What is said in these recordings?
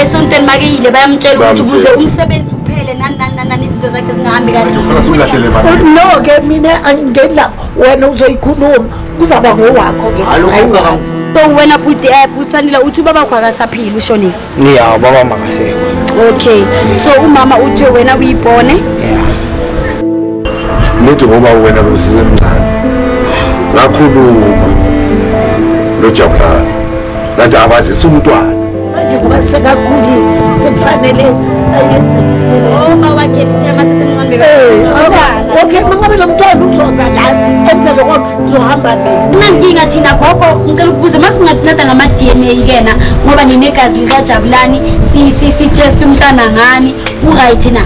esontweni makeyile bayamtshela ukuthi kuze umsebenzi uphele nani nani nani nani izinto zakhe zingahambi kahle no ke mina angingeni lapho wena uzoyikhuluma kuzaba ngowakho ke so wena bhuti app eh, usanile uthi ubaba kho akasaphili ushonile ya ubaba makasekho okay so umama uthe wena uyibone ya nithi ngoba wena bewusisemncane ngakhuluma lojabulani ngathi abazisa umntwana manje ngoba sekakhulile sekufanele ayethoma wakhe lithema sesemncambekaokhe mangabe lo mntwana uzoza la enze loko uzohamba nginankinga thina gogo ngicela ukubuza uma singadinceda ngama-d n a kena ngoba ninegazi likajabulani sitest umntwana ngani uright na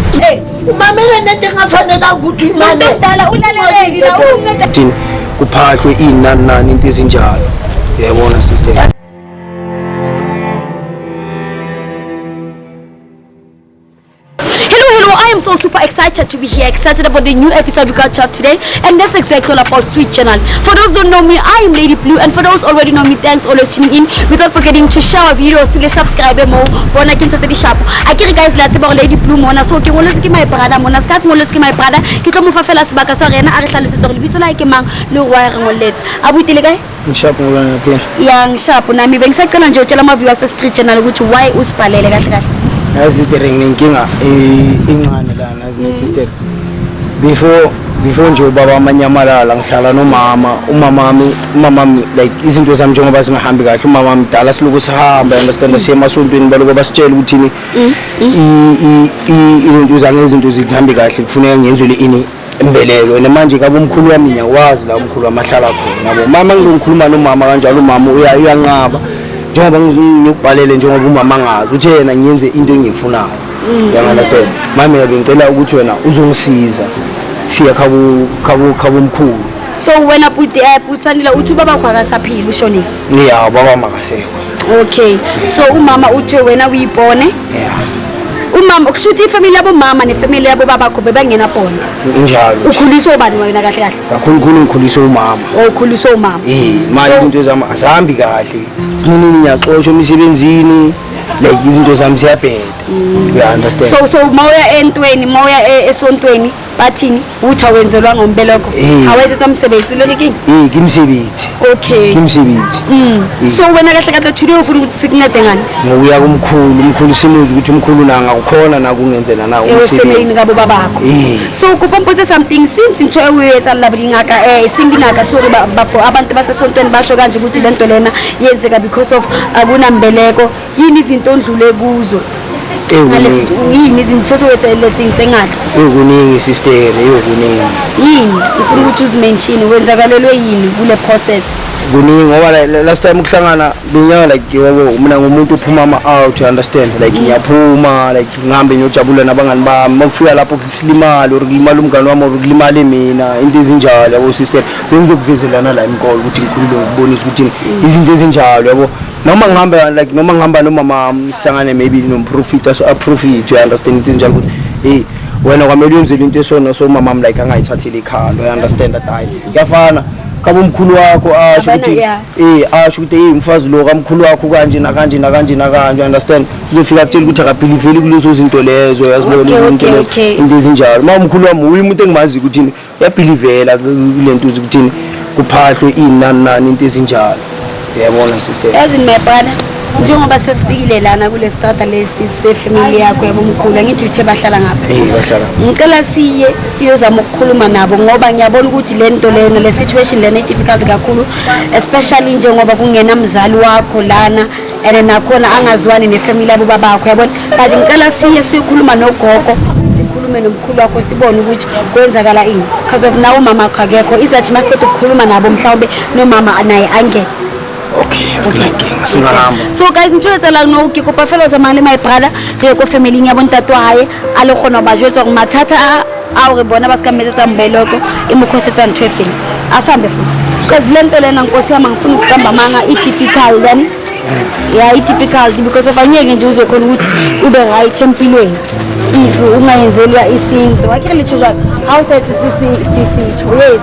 umamele nento engafanelanga ukuthi imane mdala ulaleleki la unceda thina kuphahlwe inani nani into ezinjalo yayibona sister so super excited to be here, excited about the new episode we got to have today. And that's exactly all about Sweet Channel. For those don't know me, I am Lady Blue. And for those already know me, thanks always tuning in. Without forgetting to share our videos, to subscribe mo. Bona ke ntse di shapo. I kere guys la tseba Lady Blue mona. So ke ngoletse ke my brother mona. Ska ke ngoletse ke my brother. Ke tlo mo fa fela sebaka sa rena a re hlalosetse gore lebitso la ke mang le go wa re ngoletse. A butile kae? Ngishapu ngolana pia. Ya ngishapu nami bengisacela nje utshela ama viewers street channel ukuthi why usibhalele kahle kahle. Yazi sister nginenkinga incane lana as my sister. Before before nje ubaba amanyamalala ngihlala nomama umama wami umama wami like izinto zami njengoba zingahambi kahle umama wami dala siloku sihamba understand siye emasontweni baloku basitshela ukuthi ni mm, mm. izinto zange izinto zihambi kahle kufuneka ngenzwe le ini imbeleko and manje kabe umkhulu wami ngiyakwazi la umkhulu wami ahlala khona yabo mama ngizokhuluma nomama kanjalo umama uyanqaba njengoba ngiyokubhalele njengoba umama angazi uthe yena ngiyenze into engiyifunayo mm. uyangunderstand mami mina bengicela ukuthi wena uzongisiza siya khabu khabu khabu mkhulu so wena puti eh, putsanile uthi ubaba kwakasaphila ushonile yeah baba makasekho okay so umama uthe wena uyibone yeah umama kusho ukuthi ifamily yabomama nefamily yabobabakho bebangena bonda njalo ukhuliswe ubani wena kahle kahle kakhulukhulu ngikhuliswe umama oh, ukhuliswe umama eh manje izinto zami azihambi kahle sinini ngiyaxoshwa emisebenzini like izinto zami ziyabheda mm. you understand so so mawuya entweni mawuya e, esontweni bathini uthi awenzelwanga umbeleko Eh. awenzelwa msebenzi ulele kini Eh ke msebenzi. okay Ke msebenzi. Mm. so wena kahle kahle today ufuna ukuthi sikuncede ngani Ngokuya kumkhulu, umkhulu simuzi ukuthi umkhulu na ngakukhona na kungenzela na Eh, ufemelini umsebenzi. kabo babakho Eh. so kuba mpotse something since into ewuyetsa labulingaka um singingaka sorry ba- babo abantu basesontweni basho kanje ukuthi le nto lena yenzeka because of akunambeleko yini izinto ondlule kuzo ngalesi yini izinithetho wethelezi ngitsengathi yokuningi sister yokuningi yini ufuna ukuthi uzimention wenzakalelwe yini kule process kuningi ngoba last time ukuhlangana binyanga like yebo mina ngumuntu uphuma ama out you understand like mm. ngiyaphuma like ngihambe ngiyojabula nabangani bami makufika lapho kusilimala or kulimala umngani wami or kulimale mina into ezinjalo yabo sister bengizokuvezelana la imqolo ukuthi ngikhulule ngibonise ukuthi mm. izinto ezinjalo yabo noma ngihamba like noma ngihamba nomama wami sihlangane maybe nomprofita so aprofit you understand ukuthi njalo ukuthi hey wena kwamele uyenzele into esona so umama wami like angayithatheli ikhanda you understand that hayi kuyafana kabo mkhulu wakho asho Abana, ukuthi yeah. eh asho ukuthi hey mfazi lo kamkhulu wakho kanje nakanje nakanje nakanje you understand uzofika akutshela ukuthi akabhiliveli kulezo zinto lezo yazi Okay, lezo zinto okay, lezo okay. into ezinjalo uma umkhulu wami uyi umuntu engimazi ukuthi yabhilivela kule nto uze ukuthini kuphahlwe inani nani into ezinjalo uyabona sister yazi nimebhana njengoba sesifikile lana kule strata lesi sefamily yakho yabomkhulu angithi uthe bahlala ngapha eh bahlala ngicela siye siyozama ukukhuluma nabo ngoba ngiyabona ukuthi le nto lena le situation lena i-difficult kakhulu especially njengoba kungena mzali wakho lana and nakhona angaziwani nefamily yabo babakho yabona but ngicela siye siyokhuluma nogogo sikhulume nomkhulu wakho sibone ukuthi kwenzakala ini because of nawo umama wakho akekho izathi masiqeda ukukhuluma nabo mhlawumbe nomama naye angeke so guys ntho e tselang no ke kopa fela o tsamayang le my brother re ye ko familyn ya bontate wa gae a le kgona go ba jwetsa gore mathata a awu ke bona basikamele sambeloko imukhosi santhwefini asambe cause le nto lena nkosi yami angifuni ukuqamba amanga i-typical then ya i-typical because of angeke nje uzokhona ukuthi ube right empilweni if ungayenzelwa isinto wakhe litsho jalo how sathi sisitho yes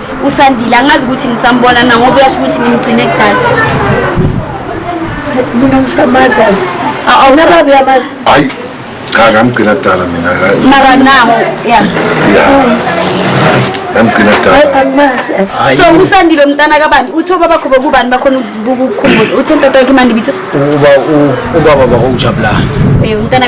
usandile angazi ukuthi nisambona na ngoba uyasho ukuthi nimgcine kudala mina ngisamazi azi nababe amazi hayi cha ngamgcina kudala mina mara nawo ya ya yamgcina kudala so usandile mntana kabani uthe ubaba kho bokubani bakhona ukukhumbula uthe ntatayakhe imandi bitho ubaba bakho ujabulani eh, umntana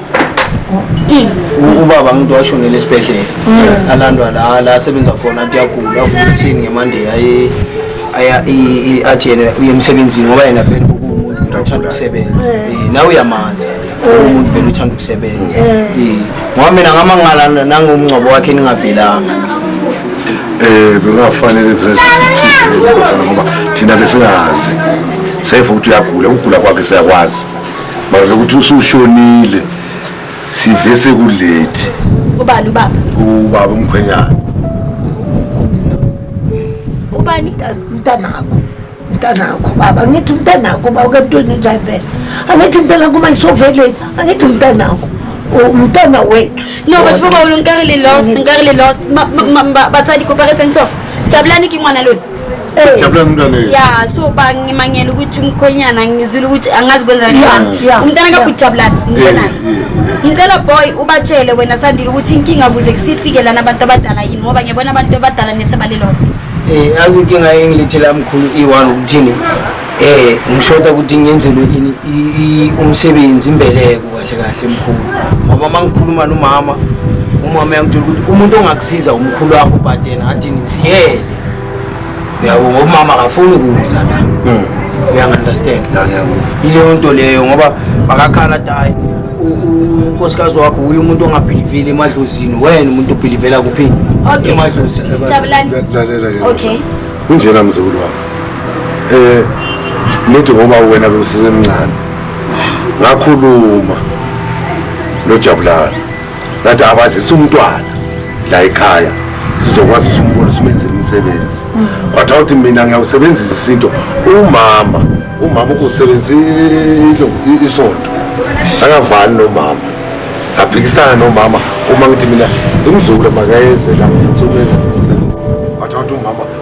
ubaba ngithi washonela esibhedlela alandwa la la asebenza khona athi yagula avuka ekuseni ngemonday aye aya i-agene uye emsebenzini ngoba yena vele kuwumuntu nje othanda ukusebenza Eh, nawe uyamazi umuntu vele uthanda ukusebenza Eh, ngoba mina ngamangala nangomngcwabo wakhe ningavelanga eh bengafanele vele sisithize ngoba thina besingazi seyiva ukuthi uyagula ukugula kwakhe siyakwazi Manje ukuthi usushonile sive sekulethi. Ubani ubaba? Ubaba umkhwenyana. Ubani? Mntanakho. Mntanakho baba ngithi mntanakho baba kantweni njani phela. Angithi mntanakho uma isoveleni angithi mntanakho. Umntana wethu. No, batho ba ba ulong ka re le lost, nka re le lost. Batswadi kopa re seng so. Jabulani ke ngwana lone. ya so ba ngimangela ukuthi umkhonyana ngizwile ukuthi angazi kwenza umntana kakujabulani mntanani ngicela boy ubatshele wena sandile ukuthi inkinga kuze kusifike lana abantu abadala yini ngoba ngiyabona abantu abadala nesebalilost um azi inkinga engilethela mkhulu i-one ukuthini um ngishoda ukuthi ngenzelwe ini umsebenzi imbeleko kahle kahle mkhulu ngoba uma ngikhuluma nomama umama uyangitshela ukuthi umuntu ongakusiza umkhulu wakho but yena athini siyele uyabo ngoba umama akafuni ukuza la hmm. uyangi-understand yileyo nto leyo ngoba bakakhala dayi unkosikazi wakho uye umuntu ongabhilivile emadlozini wena umuntu obhilivela kuphi emadlozini kunjena mzukulu wami um eh, nithi ngoba wena bewusisemncane ngakhuluma nojabulani ngathi abazisa umntwana la ekhaya sizokwazi ukuthi umbone usumenzile umsebenzi kwathiwa ukuthi mina ngiyawusebenzisa isinto umama umama usebenzile isonto sangavani nomama saphikisana nomama uma ngithi mina imzukulu makayezela somenza umsebenzi kwathiwa ukuthi umama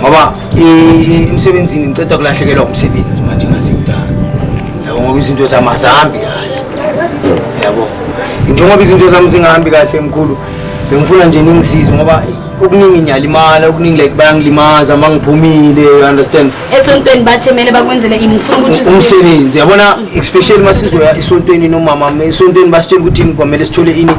ngoba emsebenzini ngiceda kulahlekelwa umsebenzi manje ngazidala yabo ngoba izinto zami azihambi kahle yabo njengoba izinto zami zingahambi kahle mkhulu bengifuna nje ningisize ngoba okuningi ngiyalimala okuningi like bayangilimaza uma ngiphumile you understand esontweni bathe kumele bakwenzele ini ngifuna ukuthi umsebenzi yabona especially uma sizoya esontweni nomama esontweni basitshela ukuthi kwamele sithole ini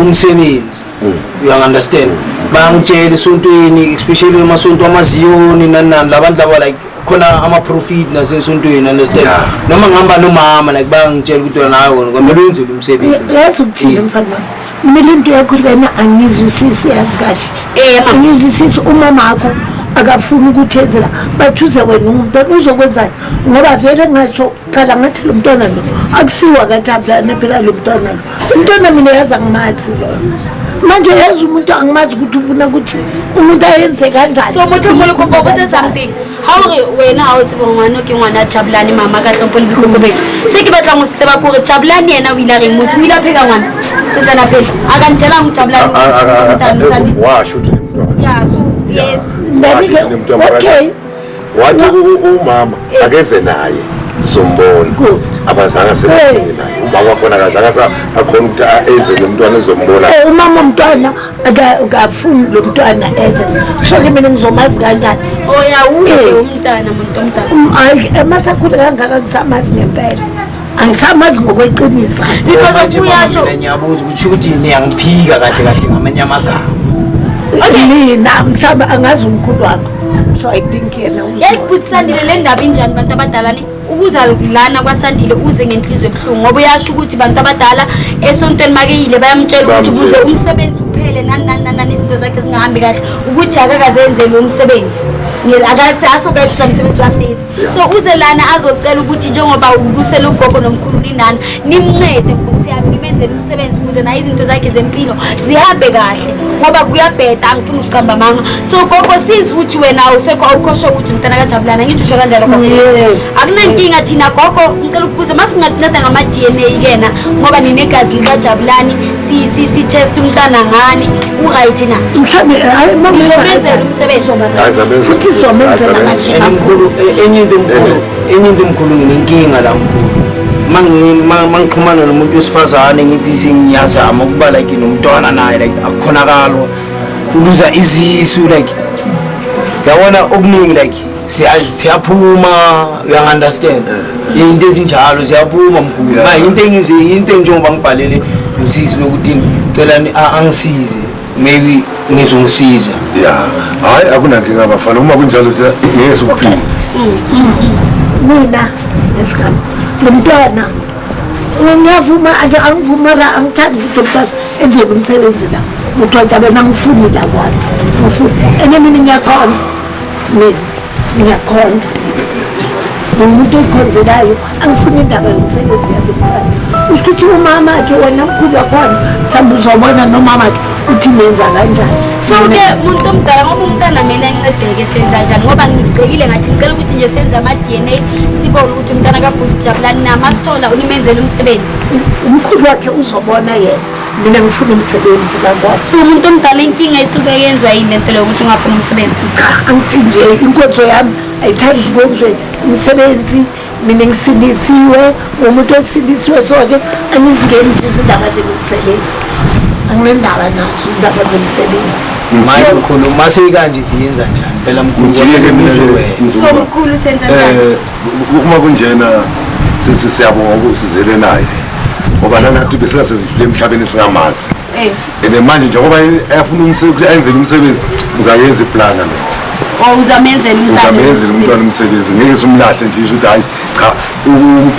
umsebenzi Mm. you understand bangitshela esontweni especially emasonto amaziyoni nani nani labantu laba like khona ama-profit nasesontweni understand noma ngihamba nomama like bangitshela ukuthi wena hayi wona kwamele wenzile umsebenzi yazi ukuthini mm. mfana wami kumele into yakho lena angizwisisi yazi kahle eh, angizwisisi umama akho akafuni ukuthezela bathi uze wena umuntu uzokwenzani ngoba vele ngasho cala ngathi lo mntwana lo akusiwa kathablane phela lo mntwana lo umntwana mina yazi angimazi lona manje yazi umuntu angimazi ukuthi ufuna ukuthi umuntu ayenze kanjani so motho molo kopo ko se something ha o re wena ha o tseba ngwana ke ngwana jabulani mama ka tlhompho le botlhoko betso se ke batlang go se tseba kore jabulani yena o ile a reng motho o ile a pheka ngwana setsana phela a ka ntelang go jabulani washo ya so yes okay wathi umama akeze naye sombona abazange sebefike naye umama wakhona akazange akhona ukuthi eze nomntwana ezombona eh, umama omntwana akafuni lo mntwana eze soke mina ngizomazi kanjani oyawuye oh, eh. umntana muntu omntana um, ayi emasakhule kangaka ngisamazi ngempela angisamazi ngokweqiniso because of uyasho ngiyabuza ukuthi ukuthi niyangiphika kahle kahle ngamanye amagama mina mhlawumbe angazi umkhulu wakho so i think yena yes but sandile le ndaba injani bantu abadala ni ukuza lana kwasandile uze ngenhliziyo ebuhlungu ngoba uyasho ukuthi bantu abadala esontweni makeyile bayamtshela ukuthi kuze umsebenzi uphele nani nani nani nani izinto zakhe zingahambi kahle ukuthi akakazenze lo msebenzi akaze asokayethuta msebenzi wasethu so uze lana azocela ukuthi njengoba ubusela ugogo nomkhulu linana nimncede nkosi yami nimenzele umsebenzi ukuze naye izinto zakhe zempilo zihambe kahle ngoba kuyabheda angifuni ukucamba manga so gogo since ukuthi wena usekho awukhosho ukuthi umntana kajabulana ngithi usho kanjalo akunankinga thina gogo ngicela ukubuza uma singakunceda ngama-d n a kena ngoba ninegazi likajabulani sitest umntana ngani uright na mhlawumbe izomenzela eh, umsebenzi futhi izomenzela amajemkhulu eh, enye into emkhulu eh. enye into emkhulu nginenkinga la mkhulu mangixhumana nomuntu wesifazane ngithi sengiyazama ukuba like nomntwana naye like akukhonakalo uluza izisu like yabona okuningi like siyaphuma uyangi-understand yinto ezinjalo ziyaphuma mkhulu ma yinto engize yinto enjengoba ngibhalele usisi lokuthi cela angisize maybe ngizongisiza ya hhayi akunankinga bafana uma kunjalo thina ngeke sikuphile mina esikam lo mntwana ngiyavuma nje angivuma la angithandi ukuthi umntwana enziwe umsebenzi la kuthiwa njalo nangifuni la kwami ngifuni ene mina ngiyakhonza mina ngiyakhonza ngiwumuntu oyikhonzelayo angifuni indaba yomsebenzi yalomfana usho ukuthi umama ke wena mkhulu wakhona mhlawumbe uzobona nomama ke ukuthi nenza kanjani so ke muntu omdala ngoba umntana mina ancedeke senza njani ngoba ngibhekile ngathi ngicela ukuthi nje senze ama-d n a sibone ukuthi umntana kabhuti jabulani nama sithola unimenzela umsebenzi umkhulu wakhe uzobona yena mina ngifuna umsebenzi bakwazi so umuntu omdala inkinga isuke yenzwa yini le nto leyo ukuthi ungafuni umsebenzi cha angithi nje inkonzo yami ayithandi kwenziwe umsebenzi mina ngisindisiwe umuntu osindisiwe so-ke angizingeni nje izindaba zemisebenzi anginendaba nazo indaba zemisebenzi manje mkhulu uma seyikanje siyenza njani phela mkhulu so mkhulu senza njani eh, Uma kunjena sisi siyabonga ukusizele naye ngoba nanathi besela sezidlule emhlabeni singamazi eh. and manje njengoba ayafuna umsebenzi ayenzele umsebenzi ngizayenza iplana lo oh, uzamenzela umntwana umsebenzi ngeke simlahle nje ukuthi hayi cha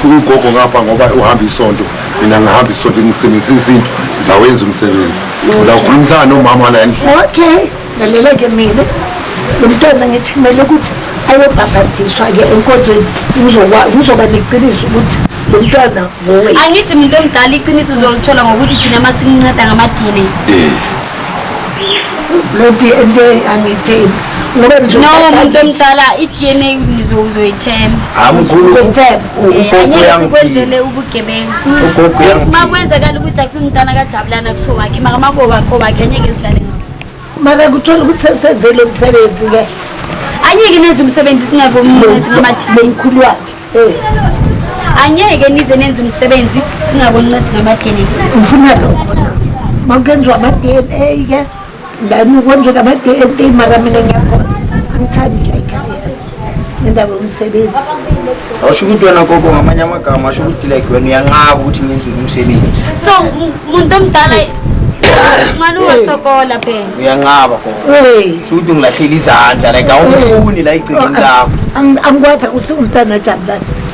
ugogo ngapha ngoba uhamba isonto mina ngihamba isonto ngisebenzisa izinto ngizawenza umsebenzi ngizawukhulumisana nomama la endlini okay lalela-ke mina lo mntwana ngithi kumele ukuthi ayobhabhadiswa-ke enkonzweni kuzoba neqiniso ukuthi lo mntwana ngowe angithi muntu omdala iqiniso uzolithola ngokuthi thina uma sininceda ngamadini eh. lo d n a angiyithembi ngoba no muntu omdala i-d n a uzoyithemba amkhuluukwenzele ubugebengu uma kwenzakala ukuthi akusumntana kajabulana kusowakhe makamakowakhowakhe anyeke ezidlale makakuthola ukuthi senze lo msebenzi-ke anyeke nenze umsebenzi singakomunati ngamathi nomkhulu wakhe um anyeke nize nenze umsebenzi singakoncedi ngama-dna ngifuna lokho na makuyenziwa ama-d n a ke ndani kwenziwa nama-d n a mara mina ngiyakhonza angithandi like ngendaba yomsebenzi awusho ukuthi wena gogo ngamanye amagama asho ukuthi like wena uyanqaba ukuthi ngenze umsebenzi so muntu omdala mani uwasokola phela uyanqaba gogo usho ukuthi ngilahlele izandla like awumfuni la igcikini lakho angikwazi usingumntana jabulani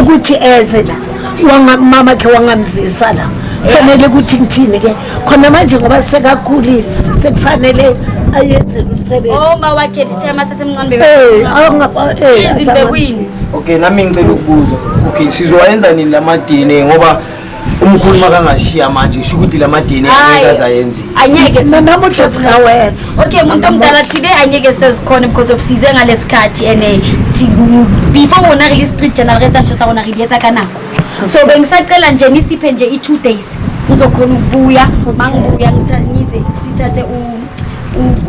ukuthi eze la wamama khe wangamzisa la kufanele ukuthi ngithini ke khona manje ngoba sekakhulile sekufanele ayenze lomsebenzi oh ma wakhe lithe masesemncane eh awungaba eh izinto kuyini okay nami ngicela ukubuza okay sizowayenza nini lama DNA ngoba uma ukhuluma kangashiya manje usho ukuthi la madini angeke azayenzile anyeke namuhla singawetha okay umuntu omdala thile anyeke sezikhona because of size ngalesikhathi and eh, before wona release street general rate and sona release kanako so bengisacela nje nisiphe nje i 2 days ngizokhona ukubuya mangibuya ngithathe sithathe u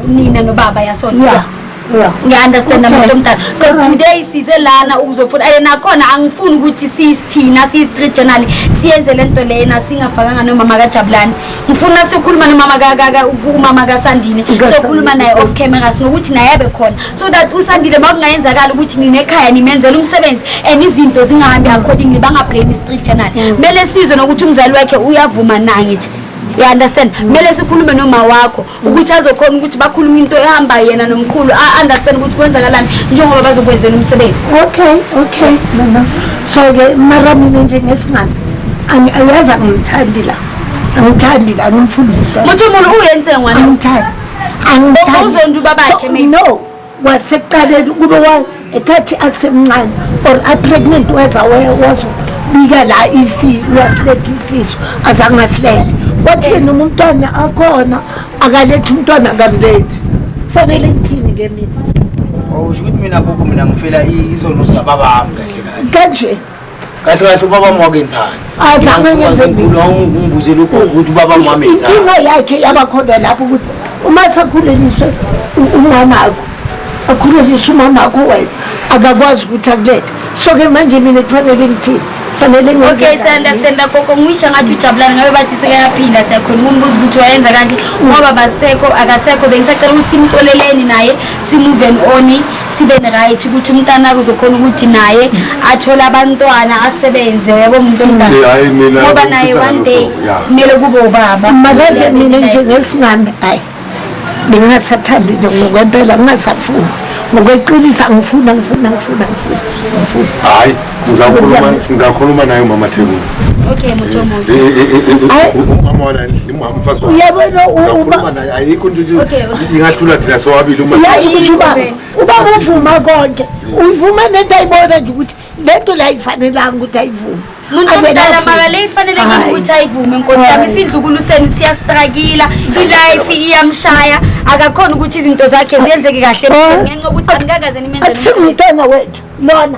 nina nobaba yasona yeah. ngiya-understanda muntu omdala because today size lana ukuzofuna and nakhona angifuni ukuthi sisithina siyi-street journal siyenze le nto lena singafakanga nomama kajabulani ngifuna siyokhuluma nomama umama kasandile sokhuluma naye off camera sinokuthi naye abe khona so that usandile ma kungayenzakala ukuthi ninekhaya nimenzela umsebenzi and izinto zingahambi accordingly bangablame i-street journal mm. kumele sizwe nokuthi umzali wakhe uyavuma na ngithi you understand kumele sikhulume noma wakho ukuthi azokhona ukuthi bakhulume into ehamba yena nomkhulu a-understand ukuthi kwenzakalani njengoba bazokwenzela umsebenzi okay okay mama so-ke mara mina nje ngesingane angiyazi angimthandi la angithandi la ngimfuni muthi umuntu uyenze ngwana angimthandi angimthandi uzonda ubabakhe no kwasekuqaleni kube ekhathi asemncane or apregnant weza wazobika la lwasiletha isisu azange asilethe wathi yena umntwana akhona akalethi umntwana akamlethi kufanele kuthini ke mina usho ukuthi mina gogo mina ngifela izono sikababami kahle kahle kanje kahle kahle ubaba wami wakenzani azange ngenze ngibuzela ugogo ukuthi ubaba wami wamenzani inkinga yakhe yabakhona lapho ukuthi uma sekhuleliswe umamakho akhulelise umamakho wena akakwazi ukuthi akulethe so-ke manje mina kufanele ngithini fanele okay siyandastand gogo ngisho ngathi ujabulani ngabe bathi sekayaphila siyakhona umbuza ukuthi wayenza kanti ngoba basekho akasekho bengisacela ukuthi simxoleleni naye simuven oni sibe right ukuthi umntana kuzokhona ukuthi naye athole abantwana asebenze yabo umuntu omdala ngoba naye one day kumele kube ubaba makeke mina nje ngesimame hayi bengingasathandi nje ngokwempela ngingasafuni ngokweqinisa ngifuna ngifuna ngifuna ngifuna ngifuna hayi ngizakhuluma ngizakhuluma naye umama Thekula okay muthomo eh, eh, eh, umama wala uyabona ingahlula thina sobabili uyazi ukuthi uba uba uvuma konke uyivuma nento ayibona nje ukuthi lento la ifanelanga ukuthi ayivume muntudalamabale ifanele ngikuthi ayivume nkosi yami isidlukulu senu siyastrakila ilife iyamshaya akakhona ukuthi izinto zakhe ziyenzeke kahle ngenxa ukuthi angikakaze nimenzeakusingumntwana wethu lona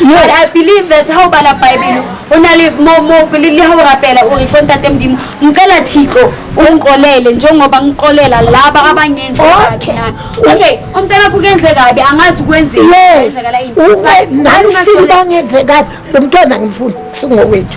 No. But I believe that how bala Bible hona le mo mo le ha o rapela o re kontate modimo ngicela thixo ungixolele njengoba ngixolela laba abangenzi kabi nami okay umntana kukenze kabi angazi kwenzeni kwenzekala into nami ngifuna bangenze kabi lo mntwana ngimfuna singowethu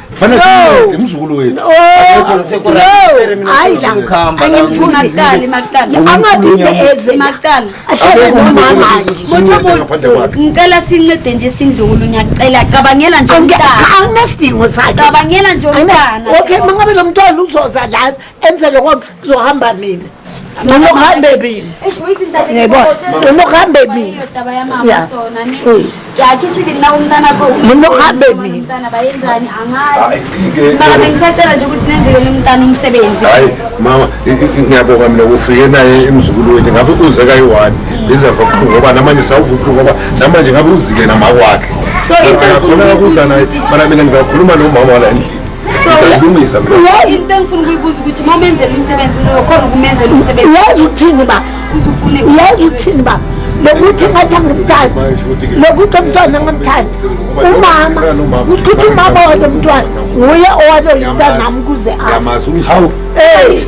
Fanele simude umzukulu wethu. No. Hayi la. Angimfuni aqale maqala. Angaphinde eze maqala. Ahlele nomama nje. Motho ngicela sincede nje sindlukulu ngiyacela cabangela nje umntana. Anginasidingo sakhe. Cabangela nje umntana. Okay mangabe lo mntwana uzoza la enze lokho kuzohamba mina noma ukuhamba ebile noma ukuhamba ebile noma ukuhamba ebile mama ngiyabonga mina ufike naye emzukulu wethu ngabe uze kayi-one ngizeva buhlungu ngoba namanje sawuva ubuhlungu ngoba namanje ngabe uzile namakwakhe khona kakuza naye mana mina ngizakhuluma nomama wala endlini Ngizolungisa mina. Yazi into engifuna ukuyibuza ukuthi uma umenzela umsebenzi ukhona ukumenzela umsebenzi. Yazi ukuthini ba? Uzufune. Yazi ukuthini ba? lokuthi ngathi angimthandi lokuthi umntwana angimthandi umama ukuthi umama walo mntwana nguye owaloyintanami kuze afe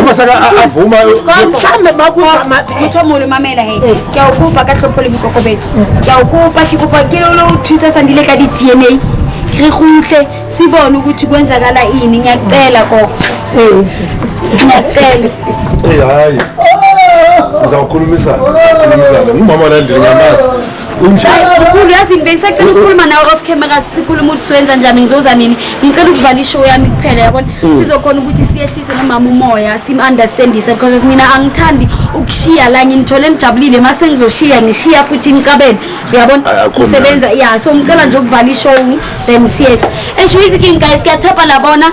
uma saka avuma mhlambe makuthomole mamela he eh. ke a o kopa ka tlhompho le boikokobetso ke a o kopa ke kopa ke lo o thusa sandile ka di-d n a re gutle se bone ukuthi kwenzakala ini ngiyacela koko eh. ngiyacela eh, hayi sizawukhulumisana ngumama landile ngamazi ukhulu yazi ngibe ngisacela ukukhuluma nawe off camera sikhuluma ukuthi siwenza njani ngizoza nini ngicela ukuvala ishow yami kuphela yabona mm. sizokhona ukuthi siyehlise nomama umoya sim-understandise because mina angithandi ukushiya la nginithole ngijabulile uma sengizoshiya ngishiya futhi ngicabele uyabona ngisebenza ya so ngicela nje ukuvala ishow then siyethi esho iziking guys kuyathapha labona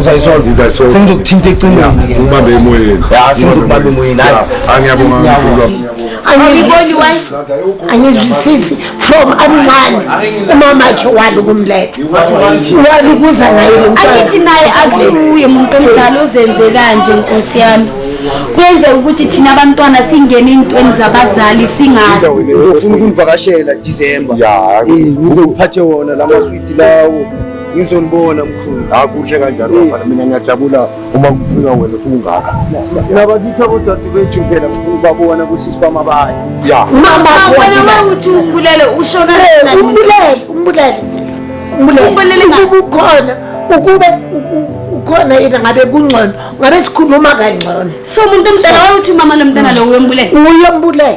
uzayisolve Ngizayisolve. sengizokuthinta ecingweni Yeah, ubambe emoyeni Ya, sengizokubamba emoyeni, hayi. Yeah, angiyabonga mkhulu wami. Angiboni why angizwisisi from amncane umama akhe wali ukumletha wali ukuza naye lo mntwana angithi naye akusiwuye muntu omdala ozenze kanje nkosi yami kuyenzeka ukuthi thina abantwana singene ey'ntweni zabazali singazi uzofuna ukundivakashela disemba Ya. ngizokuphathe wona la maswidi lawo ngizonibona mkhulu hayi kuhle kanjalo hmm. bafana mina ngiyajabula uma kufika wena ungaka nabakithi abodade bethu phela ngifuna ukubabona ukuthi sibama baye ya wena mawuthi umbulele ushona umbulele umbulele umbulele ubukhona ukube ukhona yena ngabe kungcono ngabe sikhuluma kangcono so umuntu omdala wawuthi umama lomntana lo uyombulela uyombulela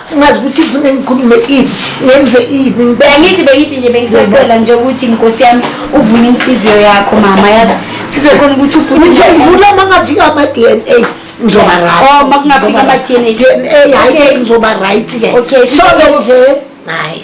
ngazi ukuthi fune ngikhulume ini ngenze ini bengithi bengithi nje bengisacela nje ukuthi nkosi yami uvune inhliziyo yakho mama yazi sizokhona ukuthi uvune uma ngafika ama-d n a ngizoba oh, makungafika ama-d n a d n a hayi ngizoba right ke okay so nje hayi